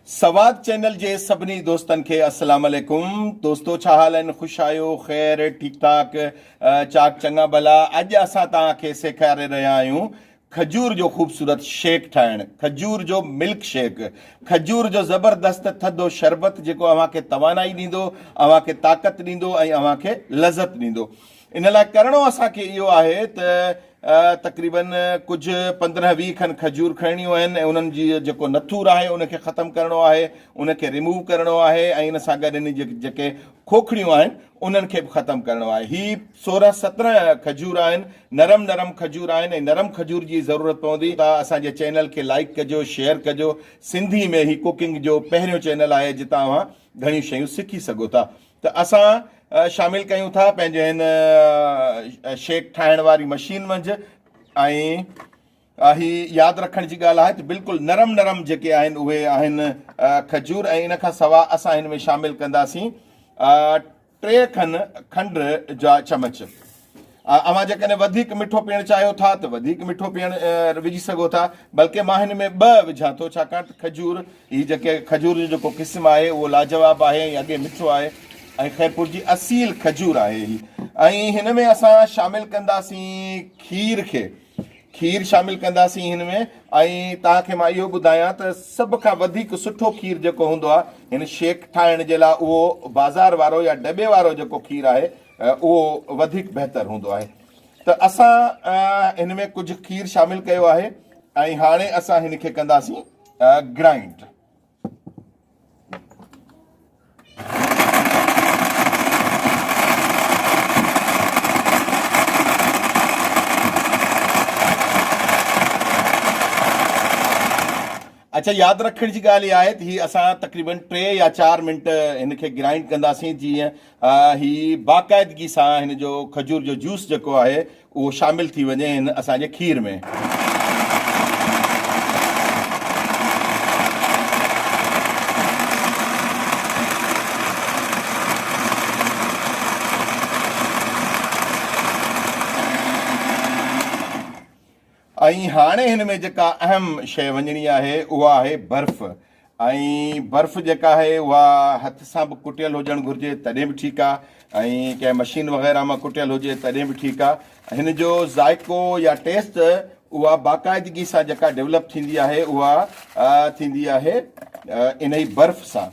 Swat channel جي سڀني دوستن کي السلام عليڪم دوستو ڇا حال آهن خوش آهيو خير ٺيڪ ٺاڪ چاڪ چڱا ڀلا اڄ اسان تان کي سيکاري رهيا آهيون کجور جو خوبصورت شيڪ ٺاهڻ کجور جو ملڪ شيڪ کجور جو زبردست ٿڌو شربت جيڪو اوهان کي توانائي ڏيندو اوهان کي طاقت ڏيندو ۽ اوهان کي لذت ڏيندو ان لاء ڪرڻو اسان کي اهو آهي ته تقريبن ڪجهه پندرهن ويهه کن کجور کڻڻيون آهن ۽ انهن جي جيڪو نٿور آهي ان کي ختم ڪرڻو آهي ان کي ريموو ڪرڻو آهي ۽ ان سان گڏ ان جي جيڪي کوکڙيون آهن انهن کي به ختم ڪرڻو آهي هي سورهن سترهن کجور آهن نرم نرم کجور آهن ۽ نرم کجور جي ضرورت پوندي ته اسان جي چينل کي لائيڪ ڪجو شيئر ڪجو سنڌي ۾ هي ڪوڪنگ جو پهريون چينل آهي جتان اوهان گهڻيون شيون سکي سگهو ٿا ته اسان شامل ڪيون ٿا پنهنجي هن شيڪ ٺاهڻ واري مشين منجهه ۽ هي ياد رکڻ جي ڳالهه آهي ته بلڪل نرم نرم جيڪي آهن اهي آهن کجور ۽ ان کان سوا اسان هن ۾ شامل ڪنداسين ٽي کن کنڊ جا چمچ اوهان جيڪڏهن وڌيڪ مٺو پيئڻ چاهيو ٿا ته وڌيڪ مٺو پيئڻ وجهي سگهو ٿا بلڪه مان هن ۾ ٻه وجهان ٿو ڇاڪاڻ ته کجور هي جيڪي کجور جو جيڪو قسم آهي اهو لاجواب آهي ۽ اڳي مٺو آهي ۽ خيرپور جي اصيل کجور آهي هي ۽ هن ۾ اسان شامل ڪنداسين کير کي کير شامل ڪنداسين هن ۾ ۽ توهان کي مان اهو ٻڌايان ته سڀ کان وڌيڪ سٺو کير جيڪو هوندو آهي هن شيڪ ٺاهڻ جي لاء اهو بازار وارو يا ڊٻي وارو جيڪو کير آهي اهو وڌيڪ بهتر هوندو آهي ته اسان هن ۾ ڪجهه کير شامل ڪيو آهي ۽ هاڻي اسان هن کي ڪنداسين گرائنڊ اچھا یاد رکڻ جي ڳالهه اها آهي ته هي اسان تقريبن ٽي يا چار منٽ هن کي گرائنڊ ڪنداسين جيئن هي باقاعدگي سان هن جو کجور جو جوس جيڪو آهي اهو شامل ٿي وڃي هن اسان جي کير ۾. ۽ هاڻي هن ۾ جيڪا اهم شيء وڃڻي آهي اها آهي برف ۽ برف جيڪا آهي اها هٿ سان به ڪٽيل هجڻ گهرجي تڏهن به ٺيڪ آهي ۽ ڪنهن مشين وغيره مان ڪٽيل هجي تڏهن به ٺيڪ آهي هن جو ذائقو يا ٽيسٽ اها باقاعدگي سان جيڪا ڊيولپ ٿيندي آهي اها ٿيندي آهي انهي برف سان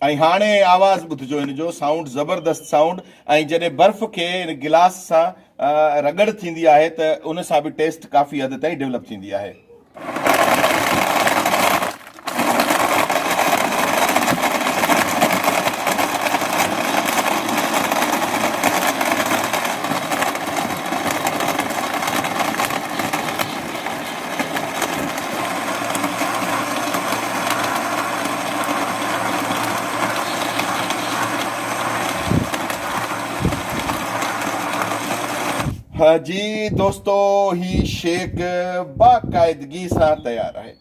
۽ هاڻي آواز ٻڌجو هن جو سائونڊ زبردست سائونڊ ۽ جڏهن برف کي هن گلاس سان رڳڙ ٿيندي آهي ته ان سان به ٽيسٽ ڪافي حد تائين ڊولپ ٿيندي آهي. ها جي دوستو هي شيڪ باقاعدگي سان تيار آهي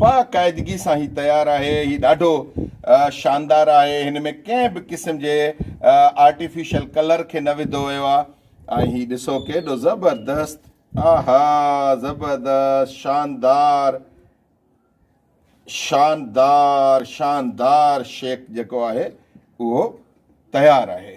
باقاعدگي سان هي تيار آهي هي ڏاڍو شاندار آهي هن ۾ ڪنهن به قسم جي آرٽيفيشل ڪلر کي نه وڌو ويو آهي ۽ هي ڏسو ڪيڏو زبردست آها زبردست شاندار شاندار شاندار شيڪ جيڪو آهي اهو تيار آهي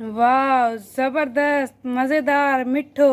واء زبردست مزيدار مٺو.